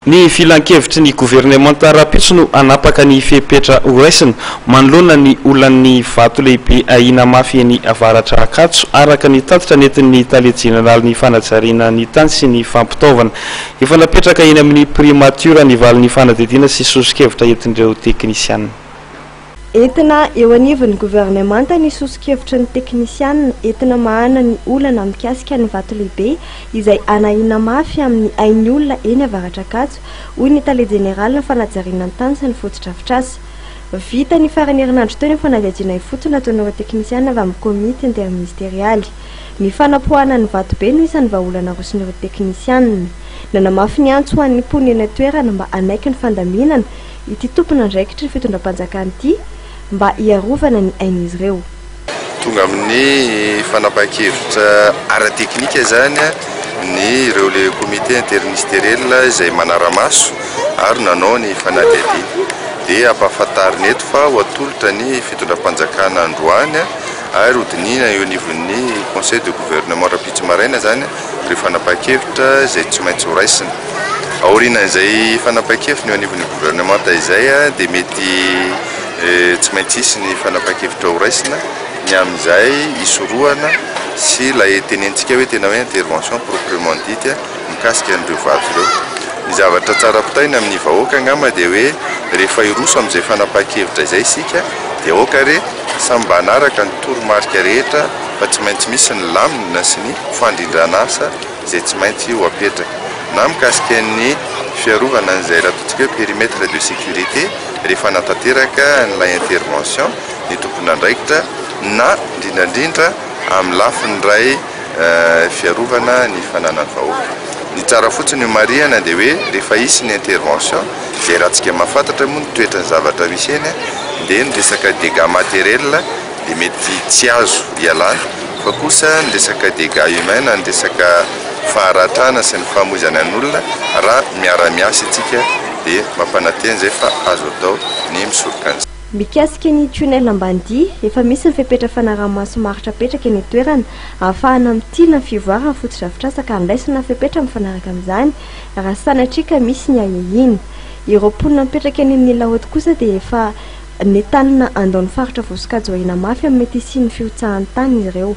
Ny filankevitry ny governemanta rahampitso no hanapaka ny fepetra horaisina manoloana ny olan'ny vato lehibe ahiana mafy eny avaratra Ankatso, araka ny tatitra nentin'ny tale jeneralin'ny fanajariana ny tany sy ny fampitaovana. Efa napetraka eny amin'ny primatiora ny valin'ny fanadihadiana sy sosokevitra entin'ireo teknisiana. Entina eo anivon'ny governemanta ny soso-kevitry ny teknisiana entina mahana ny olana mikasika ny vato lehibe izay hanahiana mafy amin'ny ain'ny olona eny Avaratr'Ankatso, hoy ny tale jeneralin'ny fanajariana ny tany sy ny fotodrafitrasa. Vita ny faran'ny herinandro teo ny fanadihadiana ifotony nataon'ireo teknisiana avy amin'ny komity interministerialy. Ny fanapoahana ny vato be no isan'ny vahaolana aroson'ireo teknisiana. Nanamafy ny antso ho an'ny mponina eny an-toerana mba hanaiky ny fandaminana ity tompon'andraikitry ny fitondram-panjakana ity mba hiarovana ny ain'izy ireo. Tonga amin'ny fanapahan-kevitra ara-teknika izany ny ireo le comité interministeriel izay manara-maso ary nanao ny fanadihadiana. Dia ampahafantarina eto fa ho atolotra ny fitondram-panjakana androany ary ho dinihina eo anivon'ny conseil de gouvernement rahampitso maraina izany. ireo fanapahan-kevitra izay tsy maintsy ho raisina. Aorianan'izay fanapahan-kevitra ny eo anivon'ny governemanta izay dia mety tsy maintsy hisy ny fanapahan-kevitra ho raisina ny amin'izay hisorohana sy ilay tenentsika hoe tena hoe intervention proprement dite mikasika an'ireo vato ireo. Ny zavatra tsara ampitaina amin'ny vahoaka angamba dia hoe rehefa hiroso amin'izay fanapahan-kevitra izay isika dia aoka re samy mba hanaraka ny toromarika rehetra fa tsy maintsy misy ny lamina sy ny fandrindran'asa izay tsy maintsy ho apetraka. Na mikasika ny fiarovana an'izay ratotsika hoe périmètre de sécurité rehefa hanatanteraka an'ilay intervention ny tompon'andraikitra na indrindrandrindra amin'ny lafiny iray fiarovana ny fananan'ny vahoaka. Ny tsara fotsiny ho marihana dia hoe rehefa hisy ny intervention izay ratsika mahafantatra moa ny toetran'ny zavatra misy eny dia ny resaka dégâts matériels dia mety tsy azo ialana fa kosa ny resaka dégats humains na ny resaka faharatrana sy ny famoizana ny olona raha miara miasa itsika dia mampanantena izay fa azo atao ny misoroka an'izany. Mikasika ny tunnel Ambanidia, efa misy ny fepetra fanaraha-maso maharitra apetraka eny an-toerana ahafahana mitily ny fivoaran'ny fotodrafitrasa ka handraisana fepetra mifanaraka amin'izany raha sanatria ka misy ny ahiahiana. Ireo mponina mipetraka eny amin'ny Laoty kosa dia efa Nentanina handao ny faritra voasokajy ho ahiana mafy amin'ny mety hisian'ny fihotsahan'ny tany ireo.